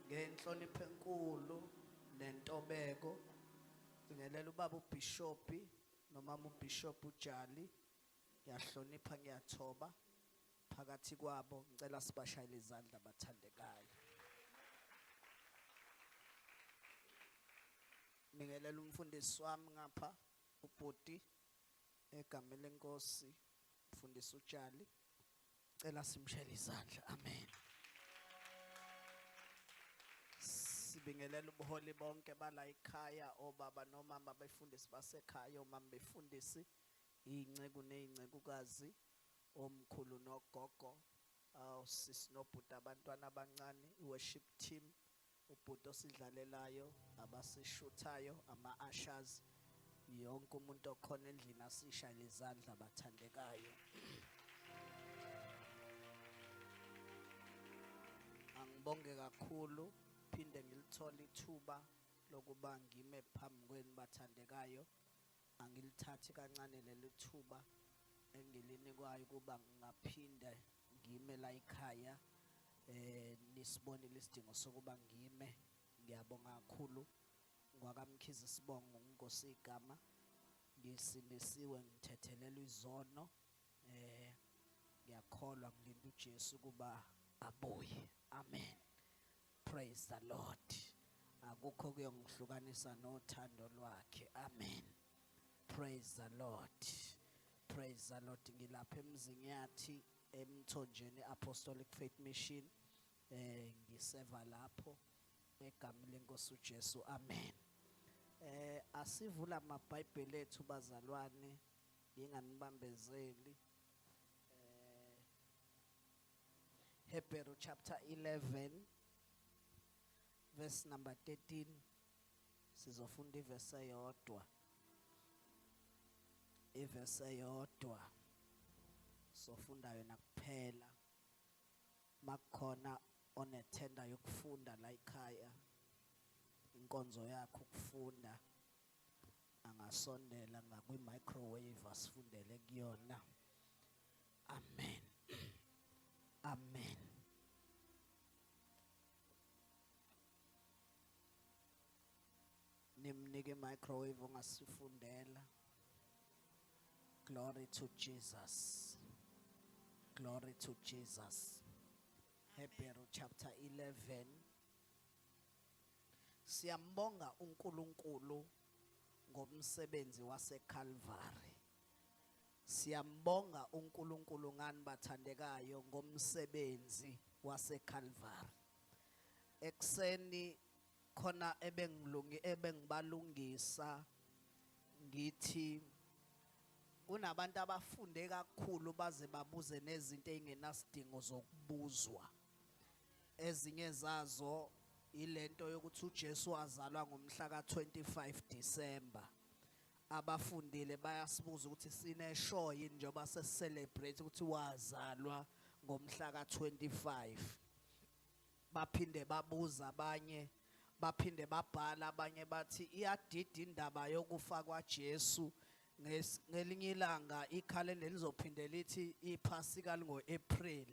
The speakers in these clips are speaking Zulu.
Ngenhlonipho enkulu nentobeko ngingelela ubaba ubhishopi nomama ubhishopi uJali ngiyahlonipha ngiyathoba phakathi kwabo ngicela sibashayele izandla abathandekayo Ngingelela umfundisi wami ngapha ubhuti egameni lenkosi mfundisi uJali Cela simshele izandla. Amen. Sibingelela ubuholi bonke bala ekhaya obaba nomama befundisi basekhaya omama befundisi inceku nezincekukazi omkhulu nogogo awusisi nobhuti abantwana abancane i-worship team ubhuti osidlalelayo abasishuthayo ama-ashas yonke umuntu okhona endlini asishayele izandla bathandekayo angibonge kakhulu phinde ngilithole ithuba lokuba ngime phambi kwenu bathandekayo Angilithathi kancane leli thuba engilinikwayo ukuba ngingaphinde ngime la ekhaya eh nisibonile isidingo sokuba ngime ngiyabonga kakhulu ngwakamkhize sibongo nginkosi igama ngisindisiwe ngithethelelwa izono eh ngiyakholwa ngilinda uJesu kuba abuye amen Praise the Lord. Akukho kuyongihlukanisa nothando lwakhe. Amen. Praise the Lord. Praise the Lord. Ngilapha emzini yathi emthonjeni Apostolic Faith Mission. Eh ngiseva lapho egameni lenkosi uJesu. Amen. Eh asivula amaBhayibheli ethu bazalwane nginganibambezeli. Eh Hebrew chapter 11 verse number 13 sizofunda iverse eyodwa iverse eyodwa sofunda yona kuphela makukhona onethenda yokufunda la ekhaya inkonzo yakho ukufunda angasondela ngakwi-microwave asifundele kuyona amen amen nimnike microwave ongasifundela glory to jesus glory to jesus hebrew chapter 11 Siyambonga uNkulunkulu ngomsebenzi waseKalvari. Siyambonga uNkulunkulu ngani bathandekayo ngomsebenzi waseKalvari. Ekseni khona ebengilungi ebengibalungisa ngithi kunabantu abafunde kakhulu baze babuze nezinto ezingenasidingo zokubuzwa ezinye zazo ilento yokuthi uJesu wazalwa ngomhla ka-25 December abafundile bayasibuza ukuthi sineshow yini njengoba sesicelebrate ukuthi wazalwa ngomhla ka-25 baphinde babuza abanye baphinde babhala abanye bathi iyadida indaba yokufa kwaJesu Nges- ngelinye ilanga ikhalenda lizophinde lithi iphasika lingo-april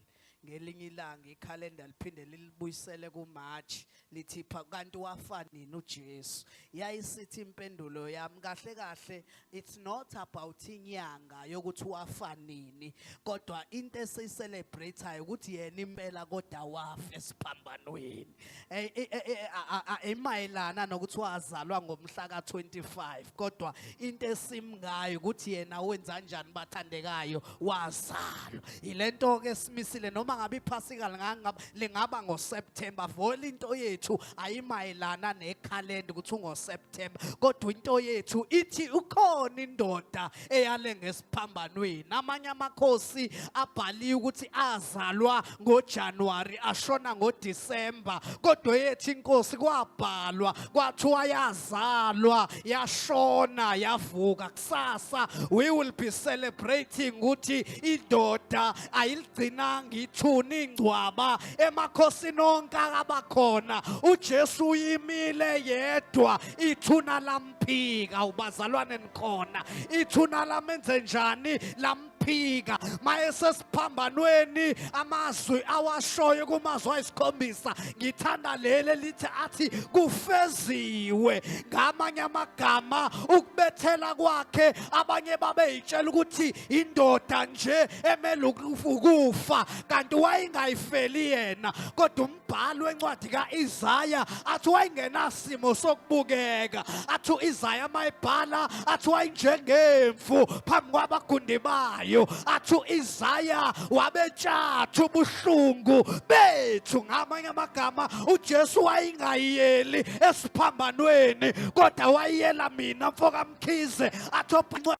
ngelinye ilanga ikhalenda liphinde lilibuyisele kumarch lithi pha- kanti wafa nini ujesu yayisithi impendulo yami kahle kahle it's not about inyanga yokuthi wafa nini kodwa into esiyicelebrate-ayo ukuthi yena impela kodwa wafa esiphambanweni Eh, eh, eh, emayelana nokuthi wazalwa ngomhla ka-25 kodwa into esimngayo ukuthi yena wenza kanjani bathandekayo wazalwa yile nto-ke esimisile noma ngabe iphasika lingaba ngoseptemba vole into yethu ayimayelana nekhalenda ukuthi ungoseptemba kodwa into yethu ithi ukhona indoda eyale ngesipho nasesiphambanweni amanye amakhosi abhaliwe ukuthi azalwa ngoJanuary ashona ngoDecember kodwa yethu inkosi kwabhalwa kwathiwa yazalwa yashona yavuka kusasa we will be celebrating ukuthi indoda ayiligcinanga ithuna ingcwaba emakhosini onke akabakhona uJesu uyimile yedwa ithuna lam phika ubazalwane nikhona ithuna lamenze njani lam ukuphika mayesesiphambanweni amazwi awashoyo kumazwi ayisikhombisa ngithanda leli elithi athi kufeziwe ngamanye amagama ukubethela kwakhe abanye babeyitshela ukuthi indoda nje emele ukufa kanti wayengayifeli yena kodwa umbhali wencwadi ka-Isaya athi wayengenasimo sokubukeka athi u-Isaya mayibhala athi wayenjengemfu phambi kwabagundi bayo athi u-Isaya wabetshatha ubuhlungu bethu ngamanye amagama uJesu wayengayiyeli esiphambanweni kodwa wayiyela mina mfokamkhize athi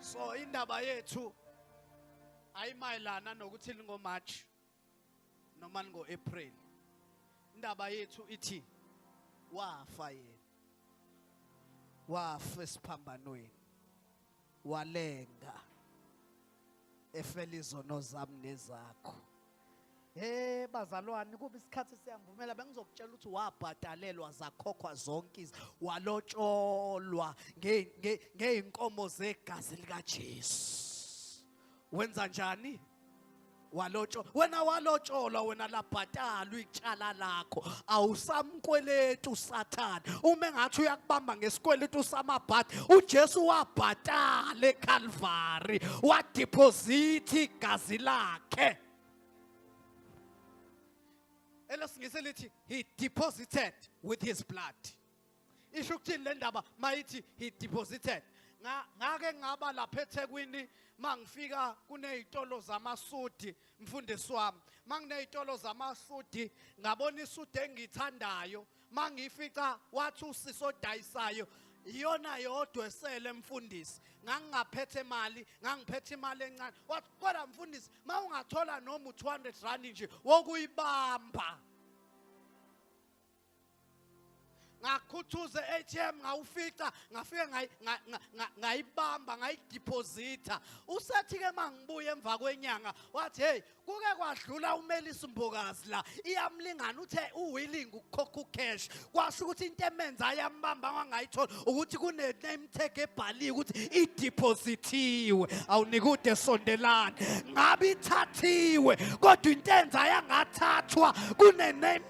so indaba yethu ayimayelana nokuthi lingomarch noma lingo-april indaba yethu ithi wafa yena wafa esiphambanweni walenga efela izono zami nezakho Hey bazalwane kuba isikhathi siyangivumela bengizokutshela ukuthi wabhadalelwa zakhokhwa zonke izi walotsholwa ngeyinkomo zegazi likaJesu. Wenza njani? Walotsholwa. Wena walotsholwa wena labhatalwa icala lakho. Awusam kweletu usathane uma engathi uyakubamba ngesikweletu samabhadi ujesu wabhatala ekhalvari wadiphozithi igazi lakhe elesingisi lithi he deposited with his blood isho ukuthini le ndaba mayithi he deposited ngake ngaba lapha ethekwini mangifika kunezitolo zamasudi mfundisi wami manginezitolo zamasudi ngabona isudi engithandayo mangifica wathi usisi odayisayo iyona yodwa esele mfundisi ngangingaphethe imali ngangiphethe imali encane wathi kodwa mfundisi ma ungathola noma u-200 rand nje wokuyibamba ngakhuthuza ATM ngawufica ngafike ngayibamba ngayideposita usethi ke mangibuye emva kwenyanga wathi hey kuke kwadlula umelisa umbokazi la iyamlingana uthe uwilling ukukhokha ucash kwasho ukuthi into emenza ayambamba wangayithola ukuthi kune name tag ebhaliwe ukuthi idepositiwe awunikude sondelana ngabe ithathiwe kodwa intenza yangathathwa kune name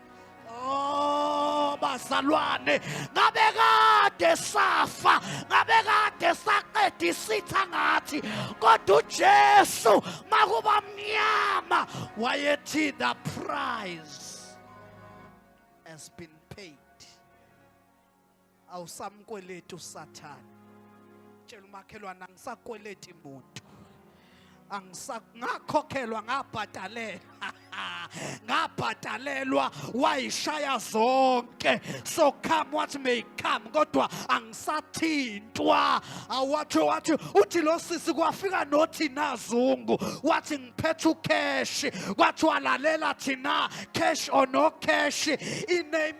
Oh bazalwane ngabe kade safa ngabe kade saqeda isitha ngathi kodwa uJesu makuba mnyama wayethi the prize has been awusamkweleti usathane tshela umakhelwane angisakweleti muntu ngakhokhelwa ngabhadalela ngabhadalelwa wayishaya zonke so come what may come kodwa angisathintwa awathi wathi uthi lo sisi kwafika nothi nazungu wathi ngiphethe ucash kwathiwa lalela thina cash or no cash iname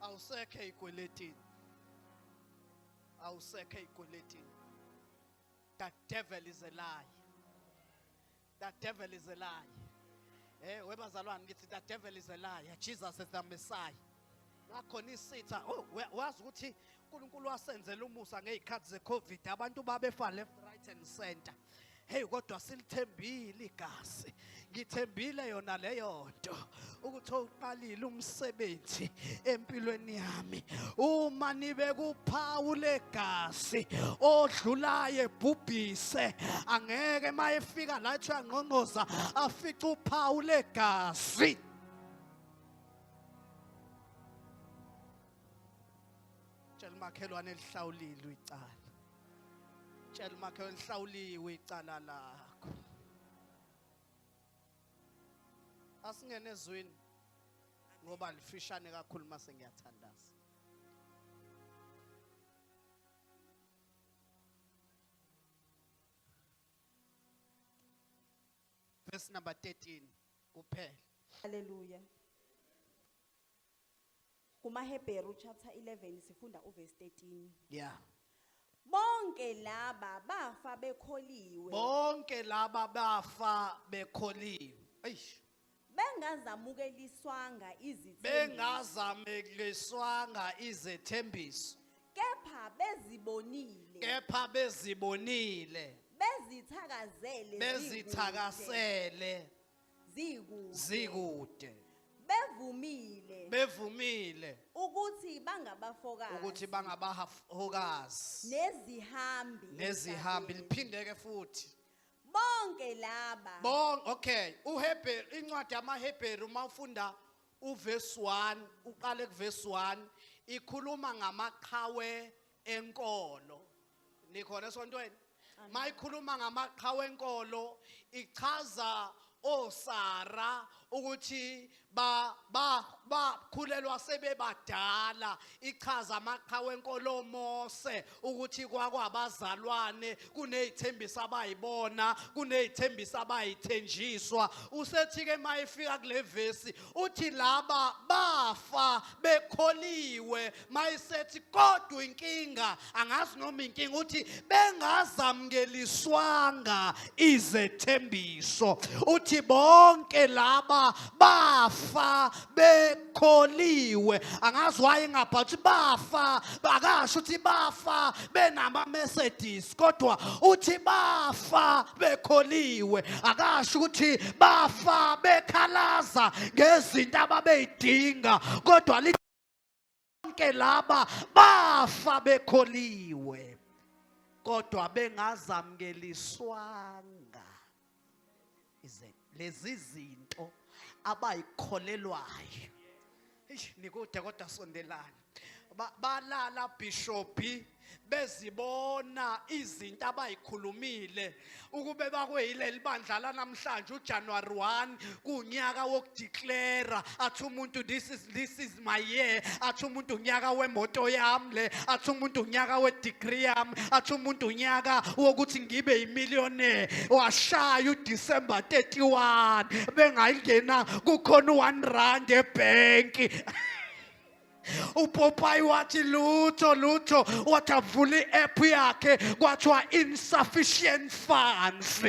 awusekho ey'kweletini awusekho ey'kweletini the devil is a lie the devil is a lie Eh webazalwane ngithi the devil is a liar. Jesus is the Messiah. Nakhona isitha oh, wazi ukuthi uNkulunkulu wasenzela umusa ngezikhathi zeCovid abantu babefa left right and center hey kodwa silithembile igazi ngithembile yona leyo nto ukuthi uqalile umsebenzi empilweni yami uma nibe kuphawu legazi odlulaye bhubhise angeke mayefika la ethu yangqongqoza afica uphawu legazi tshela umakhelwane lihlawulilwe icala tshela umakhelwane lihlawuliwe icala lakho asingene ezwini ngoba lifishane kakhulu uma sengiyathandaza verse number 13 kuphela. Haleluya. KumaHebheru chapter 11 sifunda uverse 13. Yeah. Bonke laba bafa bekholiwe. Bonke laba bafa bekholiwe. Eish. Bengazamukeliswanga izithembiso. Bengazamukeliswanga izethembiso. kepha bezibonile kepha bezibonile bezithakazele bezithakasele zikude zikude bevumile bevumile ukuthi bangabafokazi ukuthi bangabahokazi nezihambi nezihambi emhlabeni. liphindeke futhi bonke laba bon okay uhebheru incwadi yamahebheru uma ufunda Uvesi 1 uqale kuvesi 1 ikhuluma ngamaqhawe enkolo. Nikhona esontweni? Mayikhuluma ngamaqhawe enkolo ichaza osara ukuthi ba ba bakhulelwa sebebadala ichaza amaqhawe enkolo Mose ukuthi kwakwabazalwane kunezithembiso abayibona kunezithembiso abayithenjiswa usethi ke mayifika kule vesi uthi laba bafa bekholiwe mayisethi kodwa inkinga angazi noma inkinga uthi bengazamukeliswanga izethembiso uthi bonke laba bafa be kholiwe angazi waye ngabhala ukuthi bafa akasho ukuthi bafa benama-mercedes kodwa uthi bafa bekholiwe akasho ukuthi bafa bekhalaza ngezinto ababeyidinga kodwa bonke laba bafa bekholiwe kodwa bengazamukeliswanga ize lezi zinto abayikholelwayo nikude kodwa sondelana balala bishophi bezibona izinto abayikhulumile ukube bakweyileli bandla lanamhlanje uJanuary 1 kunyaka wokudeclare athi umuntu this is this is my year athi umuntu unyaka wemoto yami le athi umuntu unyaka wedegree yami athi umuntu unyaka wokuthi ngibe imillionaire washaya uDecember 31 bengayingena kukhona u1 rand ebanki upopayi wathi lutho lutho wathi avula i-app yakhe kwathiwa insufficient funds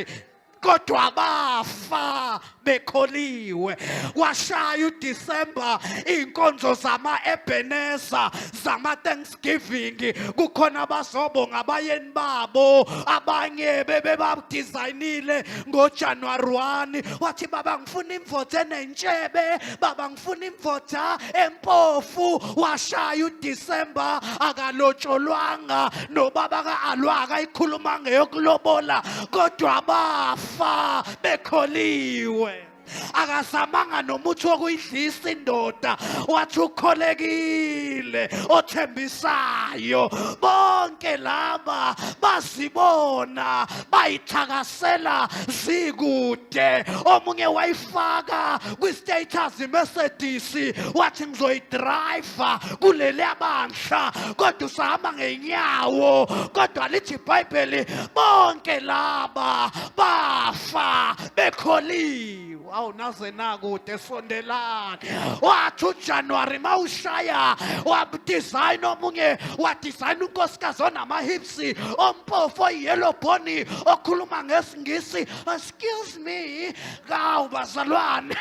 kodwa bafa bekholiwe washaya uDecember inkonzo zama Ebenezer zama Thanksgiving kukhona abazobonga abayeni babo abanye bebebadesignile ngoJanuary 1 wathi baba ngifuna imvothe nenshebe baba funa imvoda empofu washaya uDecember akalotsholwanga nobaba kaAlwa akayikhuluma ngeyokulobola kodwa bafa bekholiwe akazamanga nomuthi wokuyidlisa indoda wathi ukholekile othembisayo bonke laba bazibona bayithakasa sela zikude omunye wayifaka kwi-status mercedes wathi ngizoyidriva kuleli abandla kodwa usahamba ngenyawo kodwa lithi ibhayibheli bonke laba bafa bekholiwe awu naze nakude sondelani wathi ujanuwari ma ushaya wadizayina omunye wadizayina unkosikazi onamahips ngesi ompofu oyiyellow boni okhuluma ngesingisi excuse me kawu bazalwane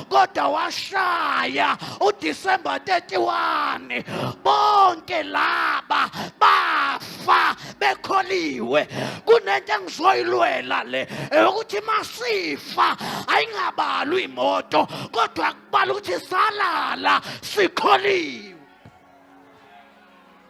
kodwa washaya udisemba 31 bonke laba bafa bekholiwe kunento engizoyilwela le eyokuthi masifa ayingabalwa imoto kodwa kubala ukuthi salala sikholiwe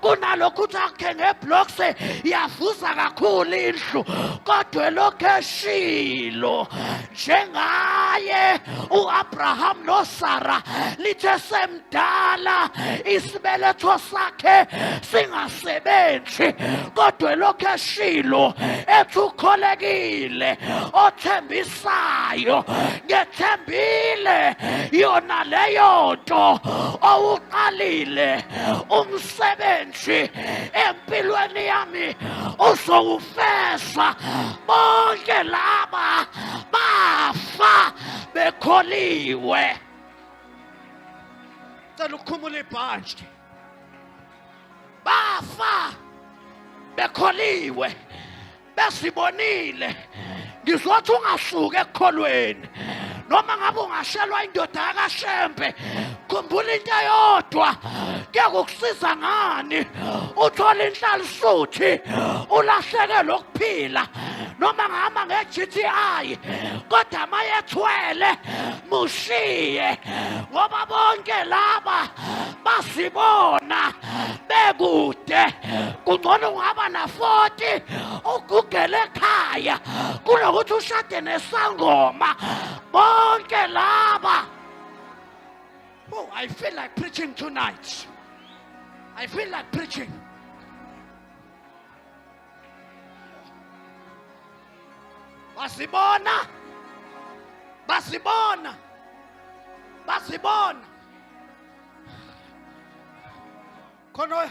kunalokho ukuthi akhe ngeblocks yavuza kakhulu indlu kodwa elokhu eshilo njengaye uAbraham noSara lithe semdala isibeletho sakhe singasebenzi kodwa elokhu eshilo ethi ukholekile othembisa oyifisayo ngethembile yona leyo nto owuqalile umsebenzi empilweni yami uzowufesa bonke laba bafa bekholiwe cela ukhumula ibhantshi bafa bekholiwe besibonile ngizothi ungasuki ekukholweni noma ngabe ungashelwa indoda yakashembe khumbula into eyodwa kuyakukusiza ngani uthola inhlalisuthi ulahleke lokuphila noma ngihamba nge-GTI kodwa mayethwele mushiye ngoba bonke laba basibona bekude kungcono ungaba na-40 ugugele ekhaya kunokuthi ushade nesangoma bonke laba oh i feel like preaching tonight i feel like preaching basibona basibona basibona khona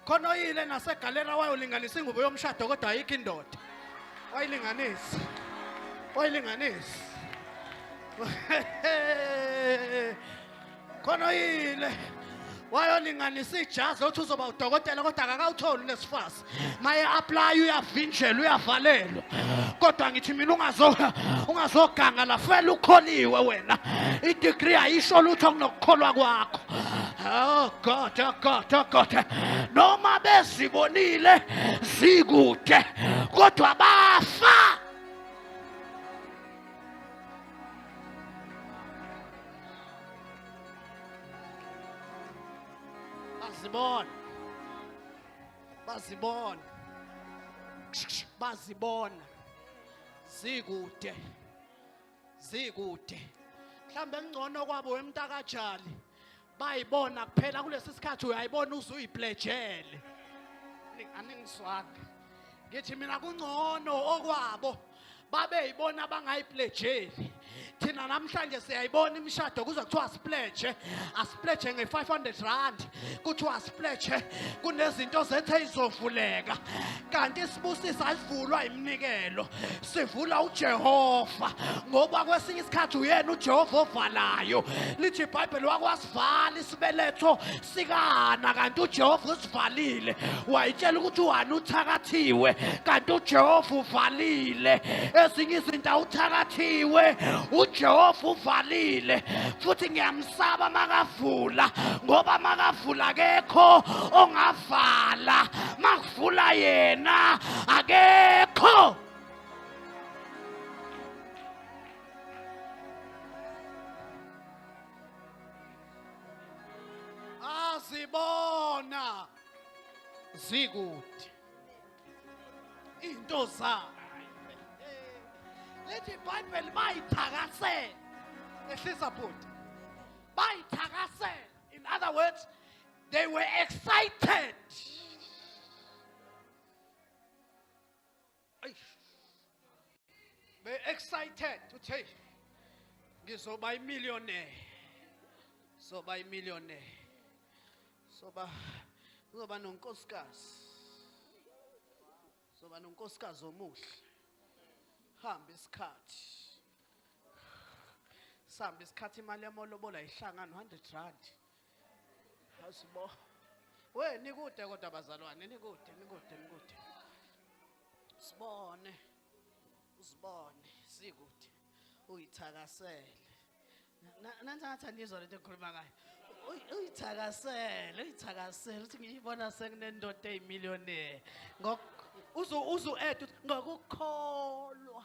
khona oyile nasegalera wayolinganisa ingubo yomshado kodwa ayikho indoda wayilinganisa wayilinganisa khona oyile wayolinganisa ijazi othi uzoba udokotela kodwa akakawutholi lesifazi maye apply uyavinjelwa uyavalelwa kodwa ngithi mina ungazo ungazoganga la fela ukholiwe wena idegree ayisho lutho kunokukholwa kwakho oh god oh god oh god noma bezibonile zikude kodwa bafa azibona bazibona bazibona zikude zikude mhlawumbe kungcono kwabo wemntakajali bayibona kuphela kulesi sikhathi uyayibona uze uyiplejele aningizwanga ngithi mina kungcono okwabo babe yibona abangayipledgeli thina namhlanje siyayibona imishado kuze kuthiwa asipledge asipledge nge-500 rand kuthiwa asipledge kunezinto zethe izovuleka kanti isibusisa alivulwa iminikelo sivula ujehova ngoba kwesinye isikhathi uyena ujehova ovalayo lithi ibhayibheli wakwasi wasivala isibeletho sikahana kanti ujehova usivalile wayitshela ukuthi uhana uthakathiwe kanti ujehova uvalile ezinye izinto awuthakathiwe ujehova uvalile futhi ngiyamsaba makavula ngoba makavula kekho ongavala makuvula yena akekho azibona zikude into zayo lethi ibhayibheli bayithakasela ehlisa bhuti bayithakasela in other words they were excited be excited uthi hey ngizoba imillionaire soba imillionaire soba uzoba nonkosikazi soba nonkosikazi omuhle hamba isikhathi sihamba isikhathi imali yamolobola ihlangana 100 rand Asibo. We nikude kodwa abazalwane nikude nikude nikude. Sibone. Usibone sikude. Uyithakasele. Nansi ngathi anizwa lento engikhuluma ngayo. Uyithakasele, uyithakasele uthi ngiyibona sekunendoda eyimillionaire. Ngok uzu uzu add ngokukholwa.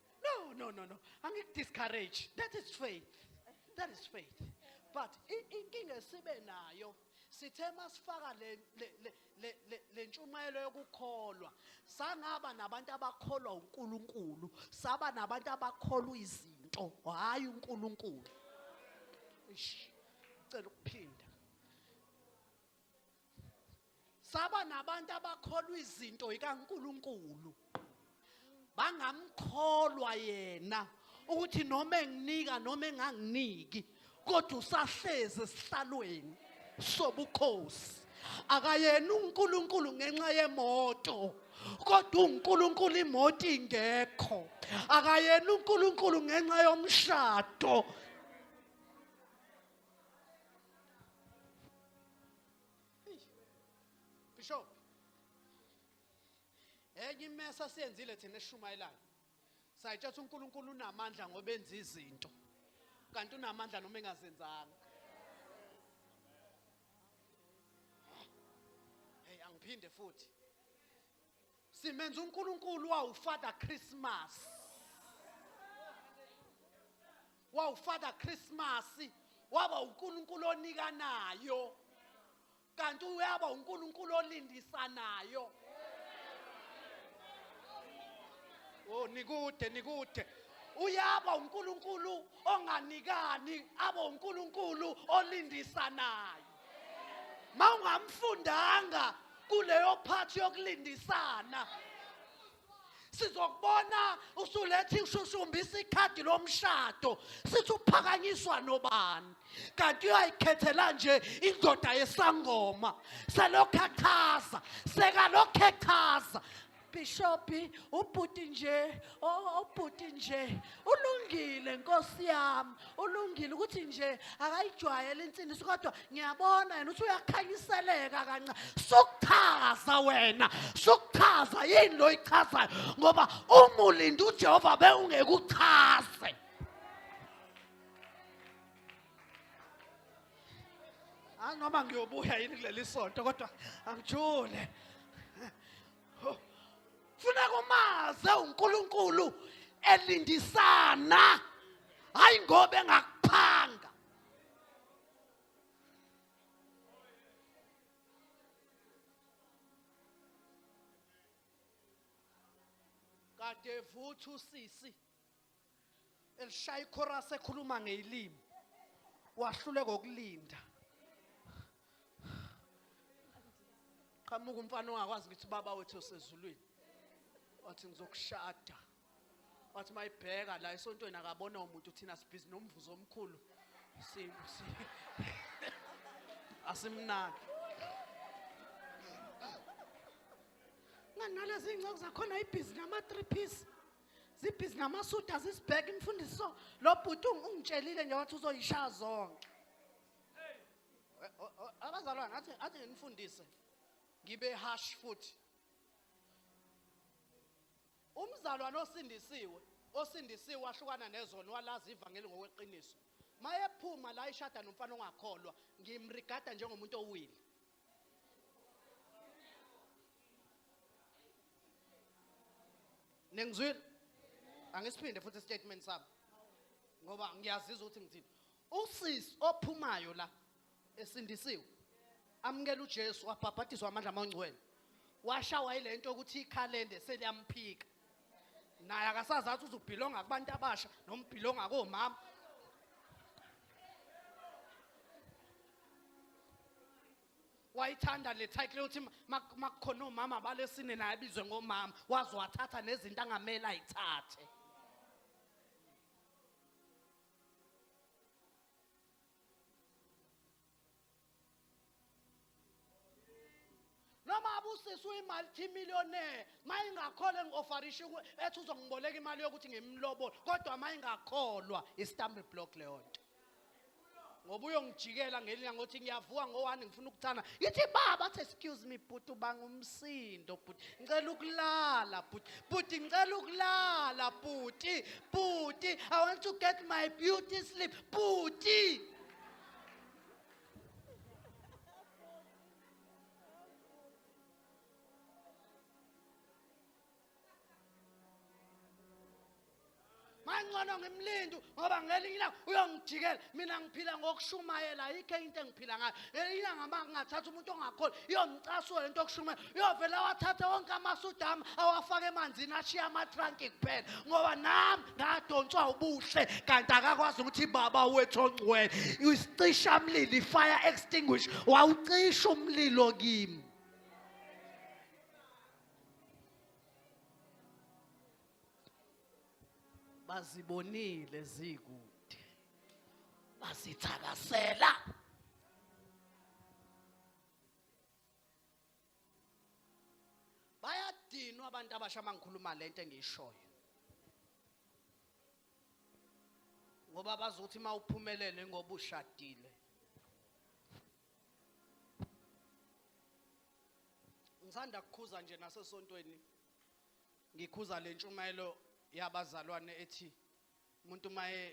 No, no, no, no. Angikudiscourage. That is faith. That is faith. But i- inkinga esibe nayo sithe masifaka le le- le- le- le- le ntshumayelo yokukholwa sangaba nabantu abakholwa uNkulunkulu saba nabantu abakholwa izinto hayi uNkulunkulu. Ish. Cela ukuphinda. saba nabantu abakholwa izinto ikaNkuluNkulu bangamkholwa yena ukuthi noma enginika noma enganginiki kodwa usahlezi esihlalweni sobukhosi akayena uNkulunkulu ngenxa yemoto kodwa uNkulunkulu imoto ingekho akayena uNkulunkulu ngenxa yomshado Bishop enye imesa siyenzile thina eshumayelayo sayitshatha uNkulunkulu unamandla ngoba enza izinto kanti unamandla noma engazenzanga hey angiphinde futhi simenza unkulunkulu wawufather christmas wawufather christmas waba unkulunkulu onikanayo kanti uyaba unkulunkulu olindisanayo oh nikude nikude uyaba uNkulunkulu onganikani aba uNkulunkulu olindisanayo mawungamfundanga kuleyo phathi yokulindisana sizokubona usulethi ushushumbisa ikhadi lomshado sithi uphakanyiswa nobani kanti uyayikhethela nje indoda yesangoma selokhu echaza sekalokhu echaza bishophi ubhuti nje obhuti nje ulungile nkosi yami ulungile ukuthi nje akayijwayele insindiso kodwa ngiyabona yena ukuthi uyakhanyiseleka kanca sukuchaza wena sukuchaza yini lo yichazayo ngoba umulinde ujehova bewungekuchaze anoma ngiyobuya yini kuleli sonto kodwa angijule funa kumaze uNkulunkulu elindisana hayi ngoba engakuphanga kade futhi usisi elishaya ichorus ekhuluma ngeyilimi wahluleka ukulinda qhamuka umfana ongakwazi ukuthi baba wethu osezulwini wathi ngizokushada wathi mayibheka la esontweni akabona umuntu thina sibhizi nomvuzo omkhulu asimnaki nganalezi ngcoku zakhona ibhizi nama-three piece zibhizi namasuda zisibheka imfundisi so lo bhuti ungitshelile nje wathi uzoyishaya zonke abazalwane athi athi nginifundise ngibe harsh futhi umzalwane osindisiwe osindisiwe wahlukana nezono walazi ivangeli ngokweqiniso mayephuma la ishada nomfana ongakholwa ngimrigada njengomuntu owile nengizwile angisiphinde futhi statement sabo ngoba ngiyazizwa ukuthi ngithini usisi ophumayo la esindisiwe amukela uJesu wabhabhatiswa amandla amangcwele washawa yilento ukuthi ikhalende seliyamphika naye akasazi athi uzubhilonga kubantu abasha noma ubhilonga komama wayithanda le title yokuthi makukhona omama balesine naye abizwe ngomama waze wathatha nezinto angamele ayithathe noma abusisi uyimaltimillionaire uma ingakholwa ngi-ofarisha ethi uzongiboleka imali yokuthi ngimlobole kodwa uma ingakholwa istambe block leyo nto ngoba uyongijikela ngelinye ngothi ngiyavuka ngowani ngifuna ukuthana yithi baba athi excuse me bhuti ubanga umsindo bhuti ngicela ukulala bhuti bhuti ngicela ukulala bhuti bhuti i want to get my beauty sleep bhuti mangcono ngimlinde ngoba ngelinye ilanga uyongijikela mina ngiphila ngokushumayela ayikho into engiphila ngayo ngelinye ilanga uma ngingathatha umuntu ongakholi iyomcasula lento yokushumayela uyovela wathathe wonke amasudami awafake emanzini ashiye amatranki kuphela ngoba nami ngadonswa ubuhle kanti akakwazi ukuthi baba wethu ongcwele isicisha mlilo i-fire extinguish wawucisha umlilo kimi bazibonile zikude bazithakasela bayadinwa abantu abasha uma ngikhuluma le nto engiyishoyo ngoba bazothi uma uphumelele ngoba ushadile ngisanda kukhuza nje nasesontweni ngikhuza le ntshumayelo yabazalwane ethi umuntu maye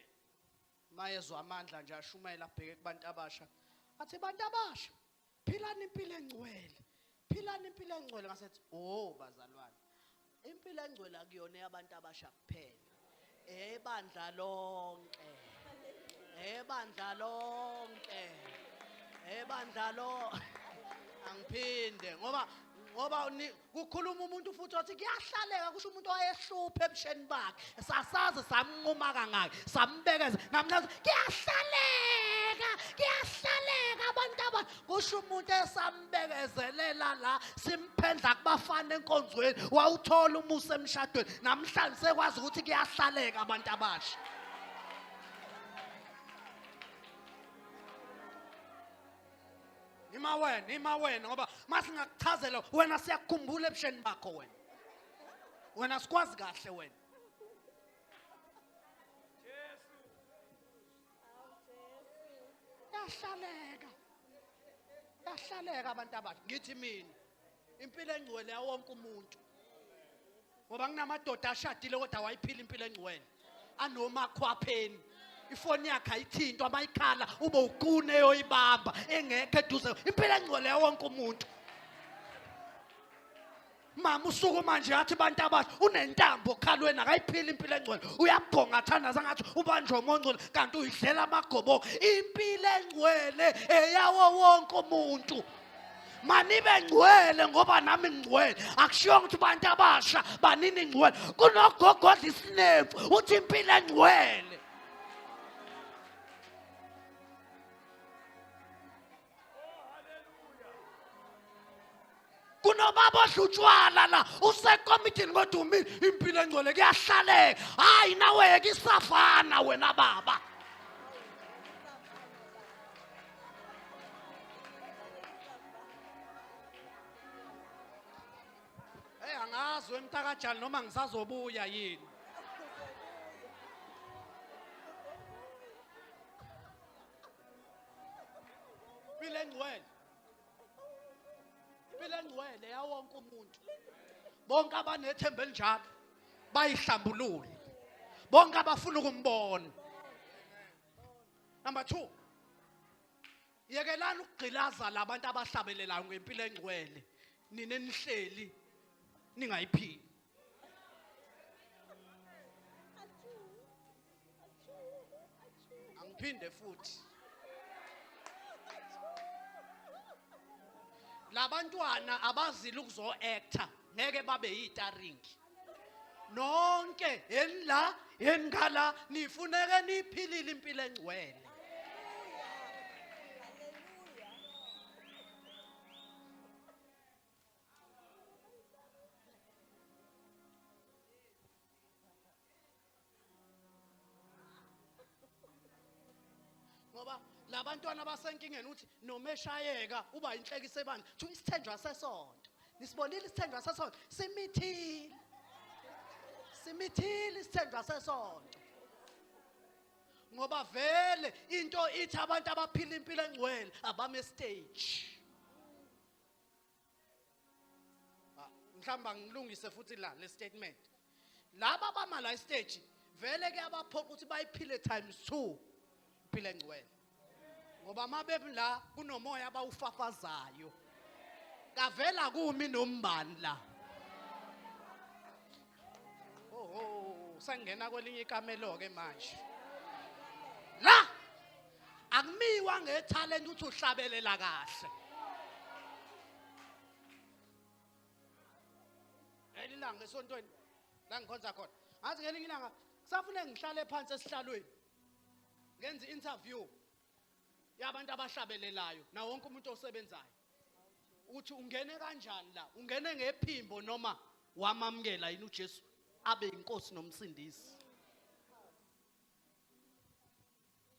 mayezwa amandla nje ashumayela abheke kubantu abasha athi bantu abasha philani impilo engcwele philani impilo engcwele ngasethi oh bazalwane impilo engcwele akuyona eyabantu abasha kuphela ebandla lonke ebandla lonke ebandla lo angiphinde ngoba ngoba kukhuluma umuntu futhi wathi kuyahlaleka kusho umuntu owayehluphe ebusheni bakhe sasaze samnquma kangaki sambekeza ngamhlaza kuyahlaleka kuyahlaleka abantu aba kusho umuntu esambekezelela la simphendla kubafana enkonzweni wawuthola umusa emshadweni namhlanje sekwazi ukuthi kuyahlaleka abantu abasha Ima wena, ima wena ngoba masingakuchazela wena siyakukhumbula ebusheni bakho wena. Wena sikwazi kahle wena. Yahlaleka. Yahlaleka abantu abasha. Ngithi mina impilo engcwele yawonke umuntu ngoba kunamadoda ashadile kodwa awayiphila impilo engcwele anomakhwapheni ifoni yakhe ayithintwa amayikhala ube uqune yoyibamba engekho eduze impilo engcwele yawonke umuntu mama usuku manje yathi abantu abasha unentambo okhalweni akayiphili impilo engcwele uyabhonga athandaza ngathi ubanjwe umongcwele kanti uyidlela amagoboka impilo engcwele eyawo wonke umuntu manibe ngcwele ngoba nami ngcwele akushiyonga ukuthi abantu abasha banini ngcwele kunogogodla isinefu uthi impilo engcwele kunobaba odla utshwala la usekomitini kodwa umi impilo engcwele kuyahlaleka hhayi naweke isafana wena baba Hey angazi wemtakajali noma ngisazobuya yini. Impilo engcwele. Impilo engcwele yawonke umuntu. Bonke abanethemba elinjalo bayihlambulule. Bonke abafuna ukumbona. Number 2. Yekelani ukugqilaza labantu abahlabelelayo ngempilo engcwele. Nina enihleli ningayiphili. Angiphinde futhi. labantwana abazile ukuzo actor ngeke babe yitaringi nonke yeni la yeni ngala nifuneke niphilile impilo engcwele ngoba labantwana basenkingeni uthi noma eshayeka uba inhlekisa ebandla thu isithenjwa sesonto nisibonile isithenjwa sesonto simithile simithile isithenjwa sesonto ngoba vele into ithi abantu abaphila impilo engcwele abame stage Ah, mhlawumbe angilungise futhi la le statement laba bama la stage vele ke abaphoqa ukuthi bayiphile times 2 iphile ngcwele ngoba mabebi la kunomoya abawufafazayo kavela kumi nombani la oho sangena kwelinye ikamelo ke manje la akumiwa ngethalente ukuthi uhlabelela kahle ngelinye ilanga esontweni la ngikhonza khona ngathi ngelinye ilanga kusafune ngihlale phansi esihlalweni ngenza i-interview yabantu abahlabelelayo nawo wonke umuntu osebenzayo ukuthi ungene kanjani la ungene ngephimbo noma wamamukela yini uJesu abe inkosi nomsindisi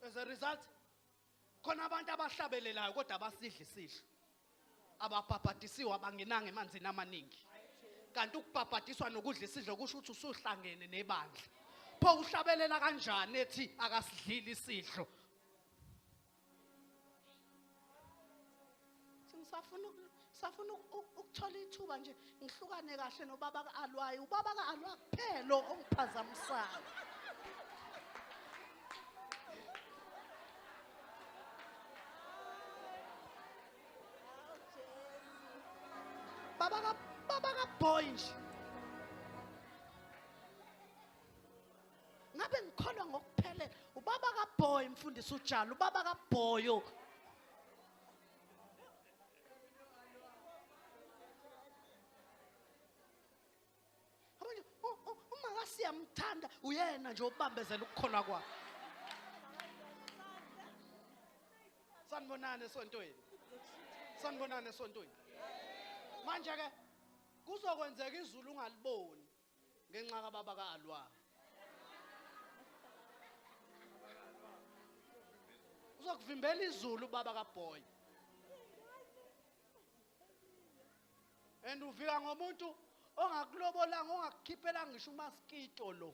as a result khona abantu abahlabelelayo kodwa abasidli sidlo ababhabhadisiwe abangenanga emanzini amaningi kanti ukubhabhadiswa nokudla isidlo kusho ukuthi usuhlangene nebandla pho uhlabelela kanjani ethi akasidlili isidlo ngisafuna ngisafuna ukuthola ithuba nje ngihlukane kahle nobaba ka-alwayo ubaba ka-alwa kuphela ongiphazamisayo baba ka baba ka boy nje ngabe ngikholwa ngokuphelele ubaba ka boy mfundisi ujalo ubaba ka boyo siyamthanda uyena nje obambezela ukukhona kwakhe sanibonani esontweni sanibonani esontweni manje ke kuzokwenzeka izulu ungaliboni ngenxa kababa ka-alwa uzokuvimbela izulu ubaba kabhoyi and uvika ngomuntu ongakulobolanga ongakukhiphelanga ngisho umaskito lo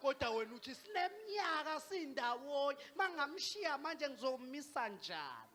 kodwa wena uthi sinemnyaka sindawonye mangamshiya manje ngizomisa njani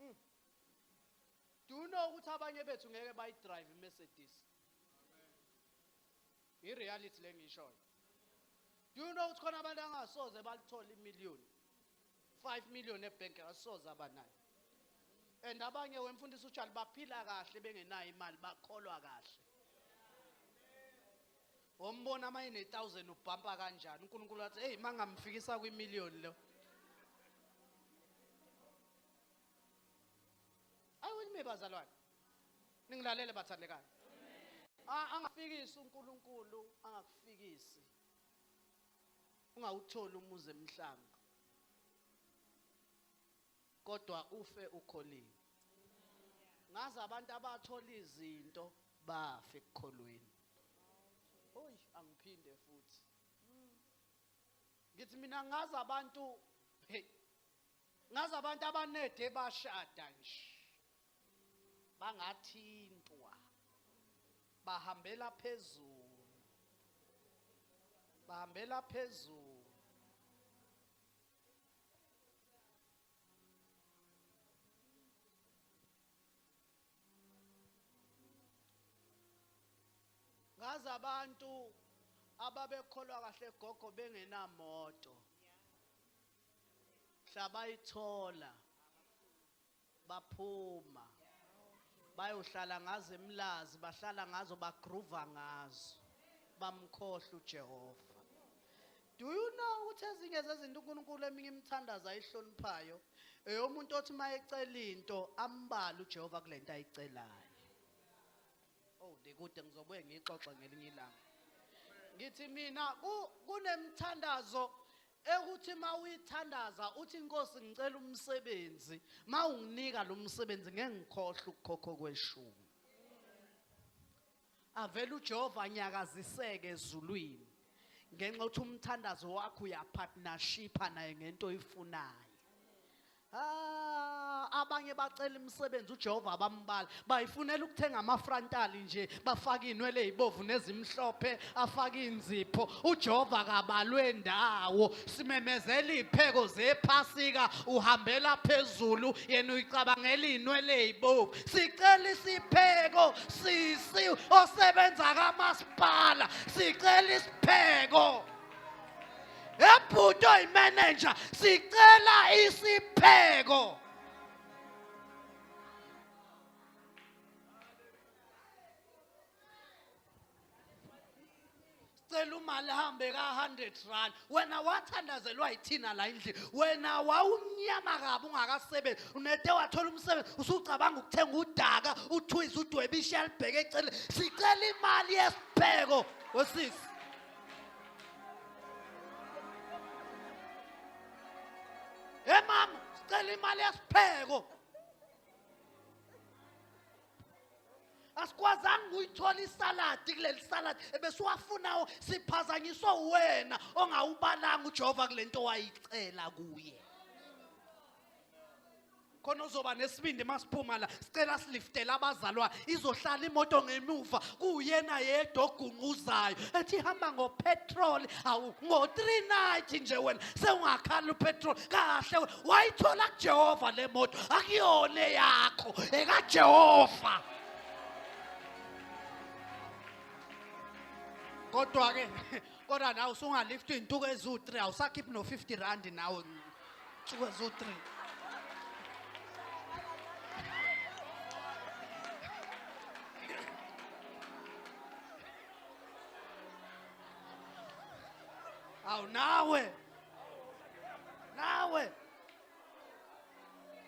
Mm. Do you know ukuthi abanye bethu ngeke bayidrive iMercedes? I reality lengishoyo. Do you know ukuthi khona abantu angasoze balithola imillion? 5 million ebank asoze abanayo. And abanye wemfundisi uJali baphila kahle bengenayo imali bakholwa kahle. Wombona ama ine 1000 ubhampa kanjani? uNkulunkulu wathi, "Hey, mangamfikisa kwi million lo." I will me bazalwane. Ningilalele bathandekayo. A- Angafikisi uNkulunkulu angakufikisi. Ungawutholi umuzi emhlanga. Kodwa ufe ukholiwe. Ngazi abantu abathola izinto bafe ekukholweni. Oy angiphinde futhi. Ngithi mina ngazi abantu hey ngazi abantu abanede bashada nje bangathintwa bahambela phezulu bahambela phezulu ngazi abantu ababekholwa kahle gogo bengenamoto mhla bayithola baphuma bayohlala ngazo emlazi bahlala ngazo bagruva ngazo bamkhohle uJehova do you know ukuthi ezinye zezinto uNkulunkulu eminye imithandazo ayihloniphayo eyomuntu othi uma ecela into ambala uJehova kule nto ayicelayo oh ndikude ngizobuye ngixoxe ngelinye ilanga ngithi mina kunemithandazo ekuthi mawuyithandaza uthi inkosi ngicela umsebenzi mawunginika lo msebenzi ngeke ngikhohle ukukhokho kweshumi avele uJehova nyakaziseke ezulwini ngenxa ukuthi umthandazo wakho uyapartnership naye ngento oyifunayo Ah, abanye bacela imisebenzi uJehova abambala bayifunela ukuthenga amafrontali nje bafake inwele ezibovu nezimhlophe afake inzipho uJehova kabalwe ndawo simemezela ipheko zephasika uhambela phezulu yena uyicabangela inwele ezibovu sicela isipheko sisi osebenza kamasipala sicela isipheko ebhuti oyimenenja sicela isipheko cela umali ahambe ka-100 rand wena wathandazelwa yithina la endlini wena wawumnyama kabi ungakasebenzi unete wathola umsebenzi usucabanga ukuthenga udaka uthwize udwebishe alibheke eceleni sicela imali yesipheko wesisi Hey mama, sicela imali yesipheko. asikwazanga ukuyithola isaladi kuleli saladi ebesiwafunayo siphazanyiswa uwena ongawubalanga ujehova kule nto wayicela kuye khona uzoba nesibindi masiphuma la sicela siliftele abazalwa izohlala imoto ngemuva kuyena yedwa ogunquzayo ethi hamba ngopetrol awu ngo-390 nje wena sewungakhala upetrol kahle wayithola kujehova le moto akuyona eyakho ekajehova kodwa-ke kodwa nawe usungalifti iy'ntuku eziwu-3 awusakhiphi no-50 randi nawe Suka zo 3. Aw nawe. Nawe.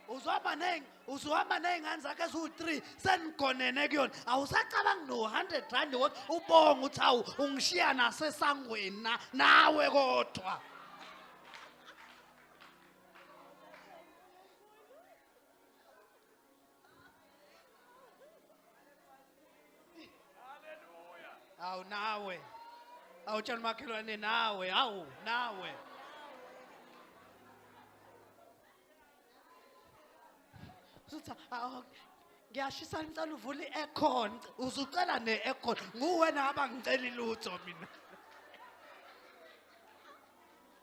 Uzohamba neng, uzohamba nengane zakhe zu 3 senigonene kuyona. Awusacabangi no 100 rand wot ubonga uthi awu ungishiya nasesangweni na nawe kodwa. awu nawe awutshela umakhelwane nawe awu nawe usuthi awu ngiyashisa ngicela uvule i-aircon uzucela ne-aircon nguwena abangiceli lutho mina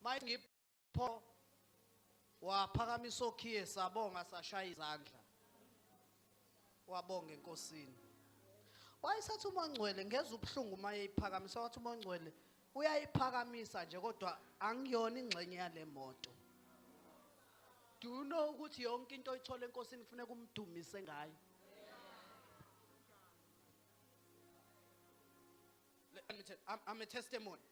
mayengipho waphakamisa okhiye sabonga sashaya izandla wabonga enkosini wayesathi uma ngcwele ngeza ubuhlungu uma eyiphakamisa wathi uma ngcwele uyayiphakamisa nje kodwa angiyona ingxenye yale moto do you know ukuthi yonke into oyithola enkosini kufuneka umdumise ngayo I'm a testimony.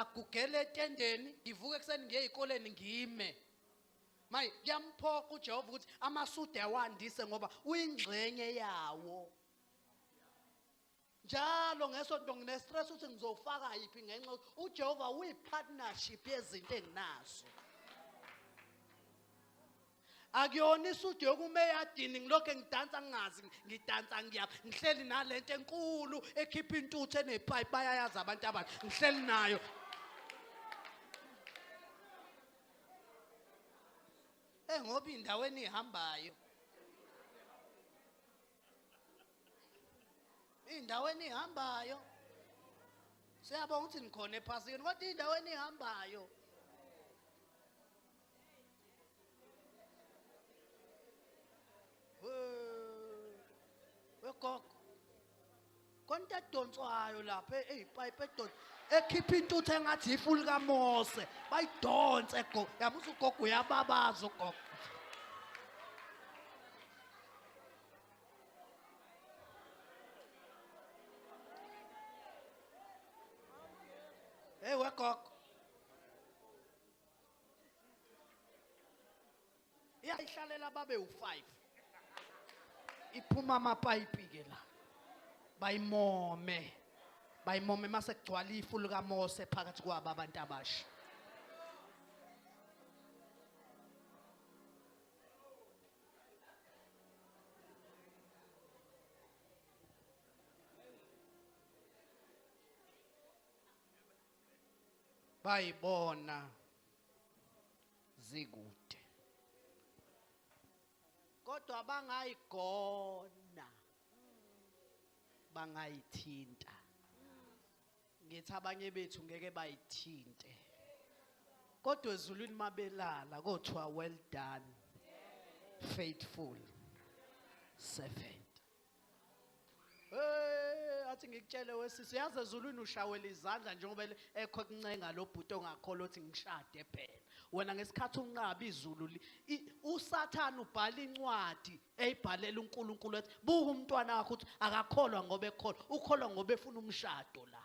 agugele etendeni ngivuke ekuseni ngiye ezikoleni ngime manje kuyamphoqa uJehova ukuthi amasude awandise ngoba uyingxenye yawo njalo ngesonto nginestress ukuthi ngizofaka yiphi ngenxa ukuthi uJehova uyipartnership yezinto enginazo akuyona isudu yokuma eyadini ngilokhu ngidansa ngingazi ngidansa ngiya ngihleli nale nto enkulu ekhipha intuthu enepipe bayayazi abantu abantu ngihleli nayo Eh ngoba indawo enihambayo. Indawo enihambayo. Siyabonga ukuthi nikhona ephasini kodwa indawo enihambayo. wegogo konta edonswayo lapha eyipayipi edonsa ekhipha intuthu engathi ifu likamose bayidonse gogo yabuza ugogo uyababaza ugogo Hey, wegogo iyayihlalela babe u-five iphuma amapayipi-ke la bayimome bayimome mase kugcwala ifu likamose phakathi kwabo abantu abasha bayibona zikude kodwa bangayigona bangayithinta ngithi abanye bethu ngeke bayithinte kodwa ezulwini mabelala kothiwa well done faithful servant Hey, athi ngikutshele wesisi yazi ezulwini ushawela izandla njengoba ele- ekho kuncenga lo bhuti ongakholwa ukuthi ngishade phela. Wena ngesikhathi unqaba izulu li- i- uSathane ubhala incwadi eyibhalela uNkulunkulu ethi buka umntwana wakho ukuthi akakholwa ngoba ekholwa, ukholwa ngoba efuna umshado la.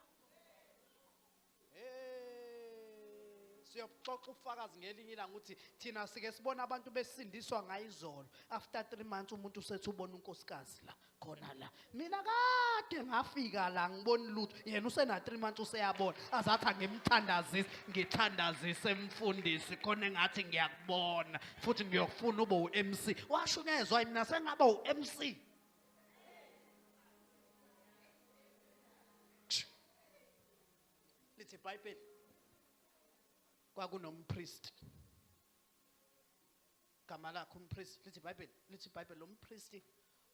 siyobuxoxa ubufakazi ngelinye ilanga ukuthi thina sike sibona abantu besindiswa ngayizolo after 3 months umuntu usethi ubona unkosikazi la khona la mina kade ngafika la ngibona lutho yena usena 3 months useyabona azathi angimthandazisi ngithandazise mfundisi khona engathi ngiyakubona futhi ngiyokufuna ube uMC washo ngezwa mina sengaba uMC lithi ibhayibheli kwakunompriest gama lakhe umpriest lithi ibhayibheli lithi ibhayibheli lo mpristi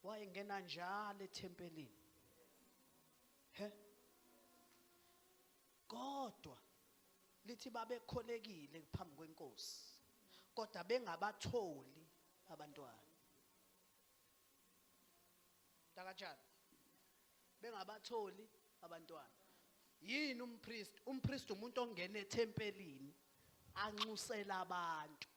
wayengena njalo ethempelini he kodwa lithi babekholekile phambi kwenkosi kodwa bengabatholi abantwana Takatshana. Bengabatholi abantwana. Yini umpriest? Umpriest umuntu ongena ethempelini anxusela abantu.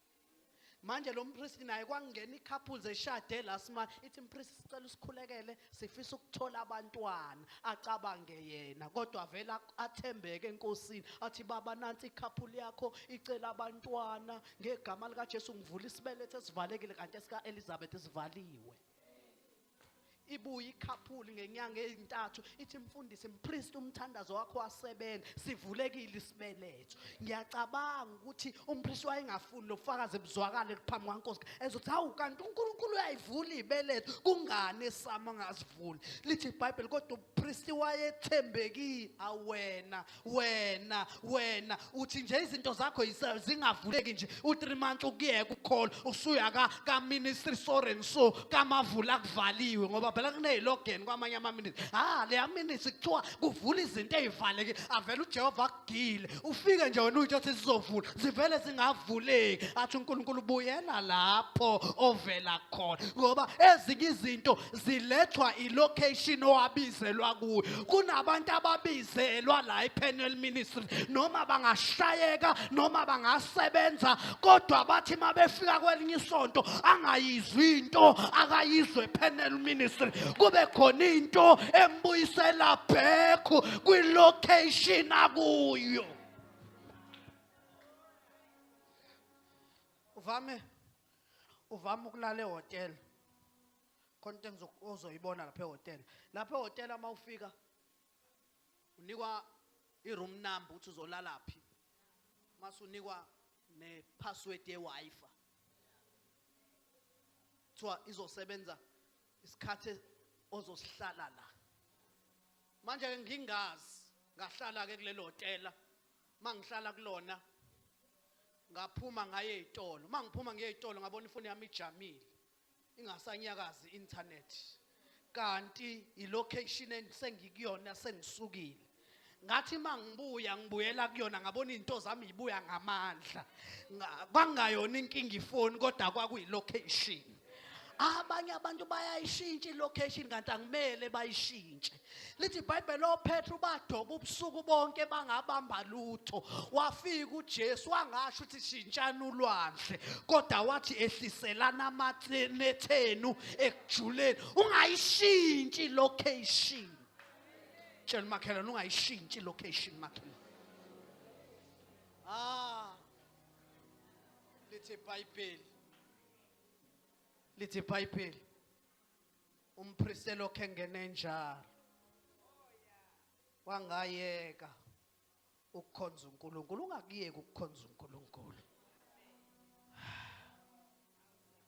manje lo mpristi naye kwangena i-couples eshade la sima ithi mpristi sicela usikhulekele sifisa ukuthola abantwana acabange yena kodwa vele athembeke enkosini athi baba nansi i-couple yakho icela abantwana ngegama likaJesu ngivula isibelethe esivalekile kanti esika Elizabeth sivaliwe ibuye ikhaphuli ngenyanga ezintathu ithi mfundisi mpriest umthandazo wakho wasebenza sivulekile isibeletho ngiyacabanga ukuthi umpriest wayengafuni lobufakazi buzwakale phambi kwankosi ezothi hawu kanti uNkulunkulu uyayivula ibeletho kungani esama ngazivuli lithi iBhayibheli kodwa umpriest wayethembekile awena wena wena uthi nje izinto zakho zingavuleki nje u3 months ukuyeka ukukhola usuya ka ka ministry soren so kamavula kuvaliwe ngoba phela kunezilogen kwamanye ama ministry ha le ministry kuthiwa kuvula izinto ezivaleke avela uJehova kugile ufike nje wena uthi sizovula zivele zingavuleki athi uNkulunkulu buyela lapho ovela khona ngoba ezinye izinto zilethwa ilocation owabizelwa kuyo kunabantu ababizelwa la ePenel Ministry noma bangashayeka noma bangasebenza kodwa bathi mabefika kwelinye isonto angayizwi into akayizwe ePenel Ministry kube khona into embuyisela back kwilocation akuyo uvame uvame ukulala ehhotela khona into engizo- ozoyibona lapha ehhotela lapha ehhotela uma ufika unikwa i-room number ukuthi uzolala phi mase unikwa ne-password ye-wi-fi kuthiwa izosebenza isikhathi ozosihlala la manje ke ngingazi ngahlala ke kulelo hotela mangihlala kulona ngaphuma ngaye ezitolo mangiphuma ngiye ezitolo ngabona ifoni yami ijamile ingasanyakazi internet kanti ilocation engise ngikuyona sengisukile ngathi uma ngibuya ngibuyela kuyona ngabona izinto zami yibuya ngamandla kwangayona inkinga ifoni kodwa kwakuyilocation abanye abantu bayayishintsha ilocation kanti angimele bayishintshe lithi ibhayibheli ophethe ubadoba ubusuku bonke bangabamba lutho wafika ujesu wangasho ukuthi shintshani ulwandle kodwa wathi ehliselana amathenethenu ekujuleni ungayishintshi ilocation tshela umakhelwane ungayishintshi location makhelwane ah lithi ibhayibheli lithi ibhayibheli umpristi elokhe engene njalo wangayeka ukukhonza uNkulunkulu ungakuyeki ukukhonza uNkulunkulu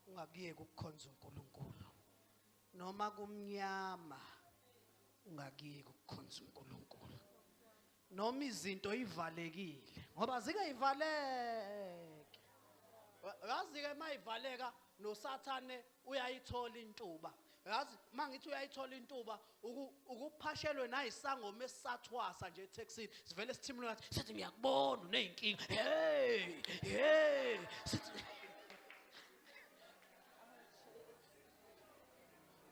ungakuyeki ukukhonza uNkulunkulu noma kumnyama ungakuyeki ukukhonza uNkulunkulu noma izinto ivalekile ngoba zike ivaleke yazi ke mayivaleka nosathane uyayithola intuba yazi uma ngithi uyayithola intuba ukuphashelwe nayisangoma esisathwasa nje ethexini sivele sithimule ngathi sithi ngiyakubona uney'nkinga hey hey sithi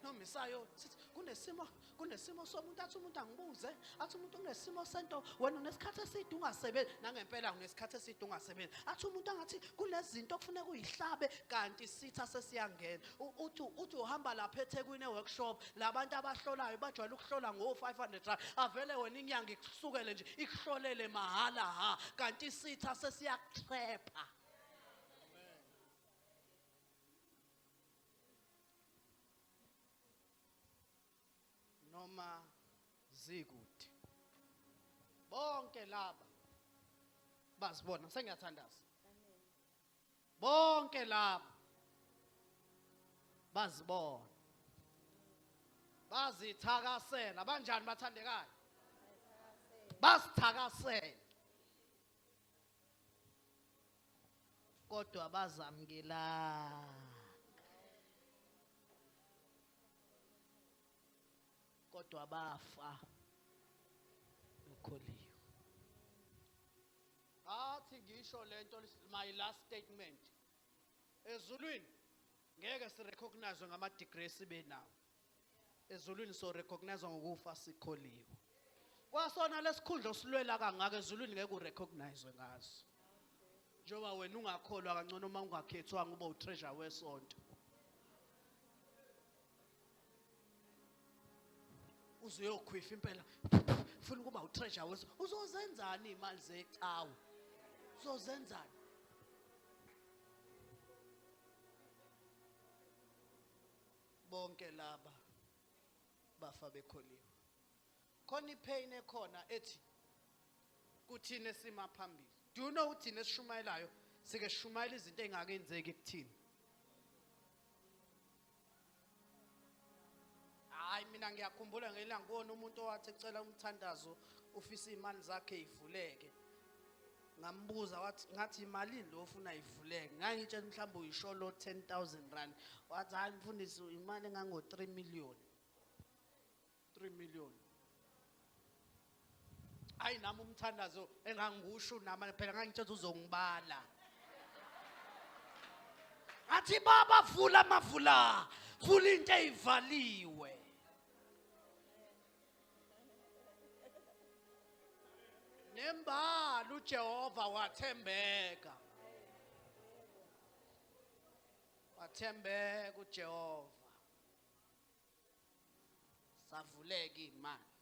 nomisayo sithi kunesimo kunesimo somuntu athi umuntu angibuze athi umuntu unesimo sento wena unesikhathi eside ungasebenzi nangempela unesikhathi eside ungasebenzi athi umuntu angathi kunezinto okufuneka uyihlabe kanti sitha sesiyangena uthi uthi uhamba lapha eThekwini workshop labantu abahlolayo bajwayele ukuhlola ngo 500 rand avele wena inyanga ikusukele nje ikuhlolele mahala ha kanti sitha sesiyakutrapha noma zikude bonke laba bazibona sengiyathandaza bonke laba bazibona bazithakasela banjani bathandekayo basithakasela kodwa bazamkelanga kodwa bafa bekholiwe athi ngisho lento my last statement ezulwini ngeke sirecognize ngama degree sibe nawo ezulwini so recognize ngokufa sikholiwe kwasona lesikhundla osilwela kangaka ezulwini ngeke urecognize ngaso njengoba wena ungakholwa kangcono uma ungakhethwanga uba utreasure wesonto uzuyokhwifa impela funa ukuba utreasure weso uzozenzani imali zecawu uzozenzani bonke laba bafa bekholiwe khona ipain ekhona ethi kuthina esima phambili do you know uthina esishumayelayo sike sishumayela izinto engakenzeki kuthina hayi mina ngiyakhumbula ngelanga kubona umuntu owathi ecela umthandazo ufisa imali zakhe ivuleke ngambuza wathi ngathi imalini lo ofuna ivuleke ngangitshela mhlawumbe uyisholo 10000 rand wathi hayi mfundisi imali engango 3 million 3 million hayi nami umthandazo engangikusho nami phela ngangitshela uzongibala athi baba vula amavula vula into eyivaliwe nembala uJehova wathembeka wathembeka uJehova savuleka imali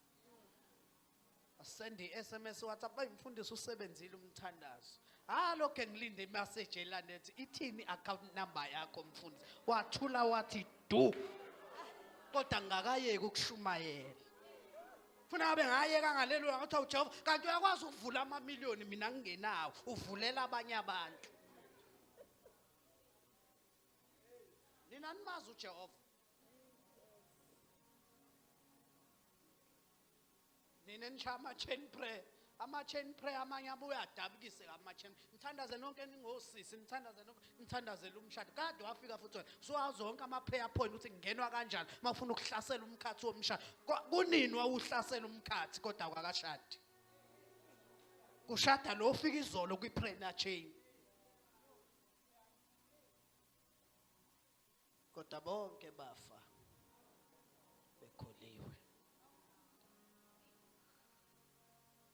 asende iSMS WhatsApp bayimfundisi usebenzile umthandazo Ah lokho ngilinde imessage elanethi ithini account number yakho mfundisi. Wathula wathi du. Kodwa ngakayeki ukushumayela. Funa abe ngayeka ngalelo ngathi uJehova kanti uyakwazi ukuvula ama million mina ngingenawo uvulela abanye abantu. Nina nimazi uJehova. nina enisha ama-chain prayer ama-chain prayer amanye abuye adabukise ama-chain nithandaze nonke ningosisi nithandaze nonke nithandazele umshado kade wafika futhi wena suwazi zonke ama-prayer point ukuthi ngingenwa kanjani uma ufuna ukuhlasela umkhathi womshado Ko- kunini wawuhlasela umkhathi kodwa kwakashadi kushada lo ofika izolo kwi-prayer chain kodwa bonke bafa bekhuliwe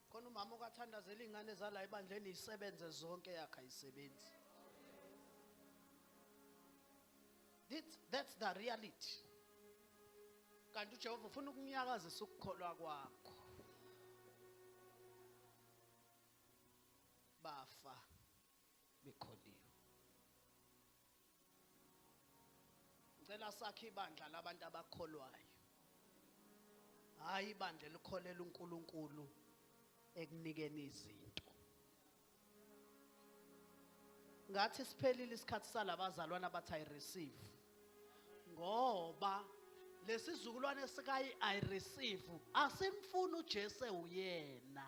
khona umama okathandazela iy'ngane zala ebandleni isebenze zonke yakhe ayisebenzi that's the reality kanti ujehova ufuna ukunyakazisa ukukholwa kwakho bafa bekhondiwe ngicela sakhe ibandla labantu abakholwayo hayi ibandla elikholela uNkulunkulu ekunikeni izinto ngathi siphelile isikhathi salabazalwana abathi i receive ngoba lesizukulwane sikayi i receive asimfuni uJesu uyena